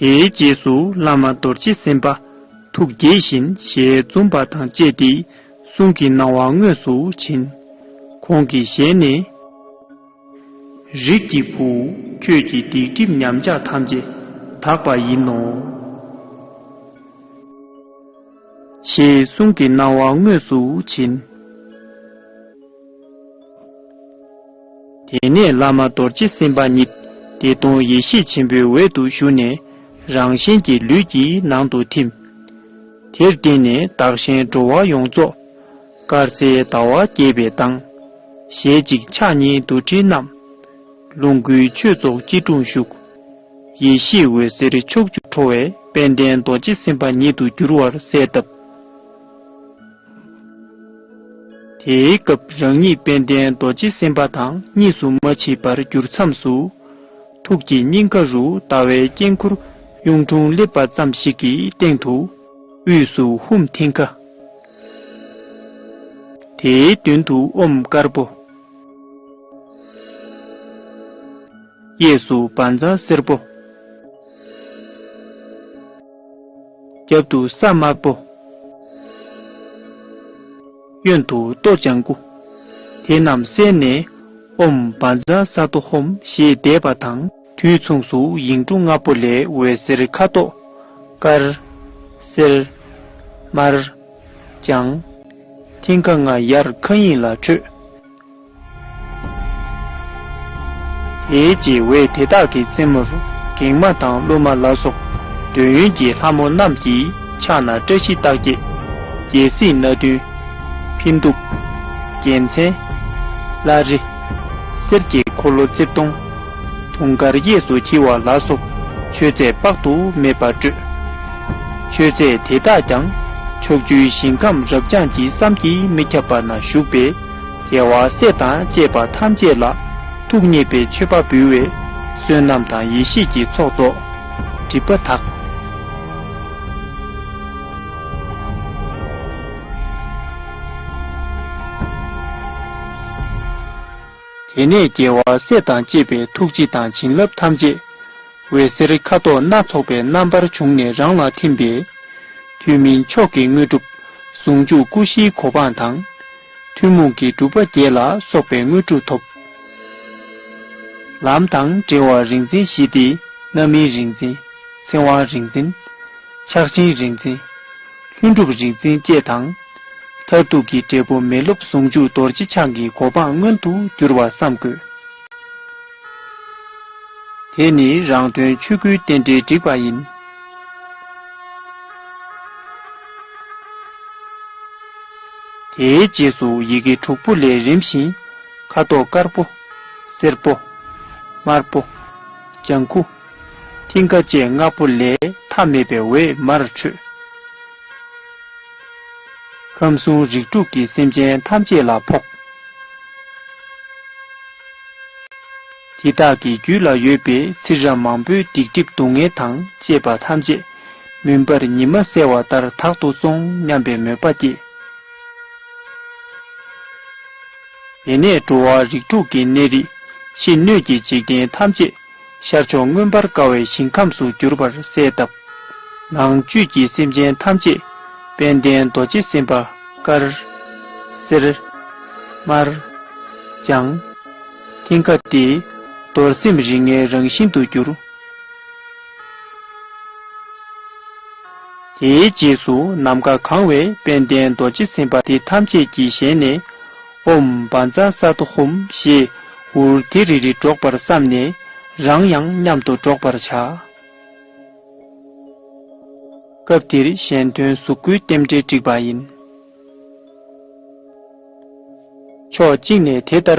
དེའི་རྗེས་སུ་བླ་མ་རྡོ་རྗེ་སེམས་དཔའ་ཐུགས་དགྱེས་བཞིན་ཞལ་འཛུམ་པ་དང་བཅས་ཏེ་གསུང་གི་སྣང་བ་དངོས་སུ་བྱིན། ཁོང་གི་ཞལ་ནས། རིགས་ཀྱི་བུ། ཁྱོད་ཀྱི་སྡིག་སྒྲིབ་ཉམས་ཆག་ཐམས་ཅད་དག་པ་ཡིན་ནོ། ཞེས་གསུང་གི་སྣང་བ་དངོས་སུ་བྱིན། དེ་ནས་བླ་མ་རྡོ་རྗེ་སེམས་དཔའ་ཉིད་བདེ་སྟོང་ཡེ་ཤེས་ཆེན་པོའི་འོད་དུ་ཞུ་ནས་རང་གཞན་གྱི་ལུས་ཀྱི་ནང་དུ་ཐིམ། དེར་བརྟེན་ནས་བདག་གཞན་འགྲོ་བ་ཡོངས་རྫོགས། དཀར་གསལ་ཟླ་བ་རྒྱས་པའི་མདངས། ཞལ་གཅིག་ཕྱག་གཉིས་རྡོར་དྲིལ་བསྣམས། ལོངས་སྐུའི་མཆོད་ཚོགས་སྐྱིལ་ཀྲུང་བཞུགས། ཡེ་ཤེས་འོད་ཟེར་ཕྱོགས་བཅུར་འཕྲོ་བས་དཔལ་ལྡན་རྡོ་རྗེ་སེམས་དཔའ་ཉིད་དུ་གྱུར་བར་གསལ་བཏབ། དེའི་སྐབས་རང་ཉིད་དཔལ་ལྡན་རྡོ་རྗེ་སེམས་དཔའ་དང་གཉིས་སུ་མ་མཆིས་པར་གྱུར་མཚམས་སུ། ཐུགས་ཀྱི་སྙིང་ག་རུ་ཟླ་བའི་དཀྱིལ་འཁོར་གཡུང་དྲུང་སླེབས་པ་ཙམ་ཞིག་གི་སྟེང་དུ། དབུས་སུ་ཧཱུྃ་མཐིང་ག། དེའི་མདུན་དུ་ཨོམ་དཀར་པོ། གཡས་སུ་བ་འཛང་སེར་པོ། རྒྱབ་ཏུ་ས་དམར་པོ། གཡོན་དུ་གཏོར་བྱང་དགུ། དེ་རྣམས་བསལ་ནས། ཨོམ་བཱན་ཛ་ས་ཏོ་ཧོམ་ཞེས་བཟླས་པ་དང། དུས་མཚུངས་སུ་ཡིག་འབྲུ་ལྔ་པོ་ལས་འོད་ཟེར་ཁ་དོག། དཀར། སེར། དམར། ལྗང། མཐིང་ག་ལྔ་ཡར་མཁའ་དབྱིངས་ལ་འཕྲོས། དེའི་རྗེས་བས་དེ་དག་གི་རྩེ་མོར་གེགས་མ་དང་གླུ་མ་ལ་སོགས་འདོད་ཡོན་གྱི་ལྷ་མོ་རྣམས་ཀྱི་ཕྱག་ན་བཀྲ་ཤིས་རྟགས་བརྒྱད། རྒྱལ་སྲིད་སྣ་བདུན། འཕན་གདུགས། རྒྱལ་མཚན། བླ་རེ། གསེར་གྱི་འཁོར་ལོ་རྩིབས་སྟོང། དུང་དཀར་གཡས་སུ་འཁྱིལ་བ་ལ་སོགས་མཆོད་རྫས་དཔག་ཏུ་མེད་པ་སྤྲོས། མཆོད་རྫས་དེ་དག་ཀྱང་ཕྱོགས་བཅུའི་ཞིང་ཁམས་རབ་འབྱམས་ཀྱི་བསམ་གྱིས་མི་ཁྱབ་པ་ན་བཞུགས་པའི་རྒྱལ་བ་སྲས་དང་བཅས་པ་ཐམས་ཅད་ལ། ཐུགས་མཉེས་པའི་མཆོད་པ་འབུལ་བས། བསོད་ནམས་དང་ཡེ་ཤེས་ཀྱི་ཚོགས་རྫོགས། སྒྲིབ་པ་དག། དེ་ནས་རྒྱལ་བ་སྲས་དང་བཅས་པའི་ཐུགས་རྗེ་དང་བྱིན་རླབས་ཐམས་ཅད། འོད་ཟེར་ཁ་དོག་སྣ་ཚོགས་པའི་རྣམ་པར་བྱུང་ནས་རང་ལ་ཐིམ་པས། དུས་མིན་མཆོག་གི་དངོས་གྲུབ། ཟུང་འཇུག་སྐུ་བཞིའི་གོ་འཕང་དང། ཐུན་མོང་གི་སྒྲུབ་པ་བརྒྱད་ལ་སོགས་པའི་དངོས་གྲུབ་ཐོབ། ལམ་དང་འབྲེལ་བ་རིག་འཛིན་བཞི་སྟེ་རྣམ་སྨིན་རིག་འཛིན། ཚེ་དབང་རིག་འཛིན། ཆགས་ཆེན་རིག་འཛིན། ལྷུན་གྲུབ་རིག་འཛིན་བཅས་དང། མཐར་ཐུག་གི་འབྲས་བུ་མི་སློབ་ཟུང་འཇུག་རྡོ་རྗེ་འཆང་གི་གོ་འཕང་མངོན་དུ་འགྱུར་བར་བསམ་དགོས། དེ་ནི་རང་དོན་ཆོས་སྐུའི་རྟེན་འབྲེལ་བསྒྲིགས་པ་ཡིན། དེའི་རྗེས་སུ་ཡི་གེ་དྲུག་པོ་ལས་རིམ་བཞིན་ཁ་དོག་དཀར་པོ། སེར་པོ། དམར་པོ། ལྗང་ཁུ། མཐིང་ག་བཅས་ལྔ་པོ་ལས་མཐའ་མེད་པའི་འོད་དམར་འཕྲོས། ཁམས་གསུམ་རིགས་དྲུག་གི་སེམས་ཅན་ཐམས་ཅད་ལ་ཕོག། དེ་དག་གི་རྒྱུད་ལ་ཡོད་པའི་ཚིག་རབ་མང་པོའི་སྡིག་སྒྲིབ་སྡུག་བསྔལ་དང་བཅས་པ་ཐམས་ཅད་མུན་པར་ཉི་མ་གསལ་བ་ལྟར་དག་ཏུ་སོང་སྙམ་པའི་མོས་པ་སྐྱེས། དེ་ནས་འགྲོ་བ་རིགས་དྲུག་གི་གནས་རིགས་ཤི་གནོད་ཀྱི་འཇིག་རྟེན་ཐམས་ཅད་ཤར་ཕྱོགས་མངོན་པར་དགའ་བའི་ཞིང་ཁམས་སུ་གྱུར་པར་གསལ་བཏབ། ནང་བཅུད་ཀྱི་སེམས་ཅན་ཐམས་ཅད་དཔལ་ལྡན་རྡོ་རྗེ་སེམས་དཔའ་དཀར། སེར། དམར། ལྗང། མཐིང་ག་སྟེ། རྡོར་སེམས་རིགས་ལྔའི་རང་བཞིན་དུ་གྱུར། དེའི་རྗེས་སུ་ནམ་མཁའ་གང་བའི་དཔལ་ལྡན་རྡོ་རྗེ་སེམས་དཔའ་དེ་ཐམས་ཅད་ཀྱི་ཞལ་ནས། སྦོམ་འབའ་འཛའ་ས་དོ་ཧོམ་ཞེས་འུར་དི་རི་རི་སྒྲོག་པར་བསམས་ནས་རང་ཡང་མཉམ་དུ་སྒྲོག་པར་བྱ། སྐབས་འདིར་གཞན་དོན་གཟུགས་སྐུའི་རྟེན་འབྲེལ་བསྒྲིགས་པ་ཡིན། ཕྱོགས་གཅིག་ནས་དེ་ལྟར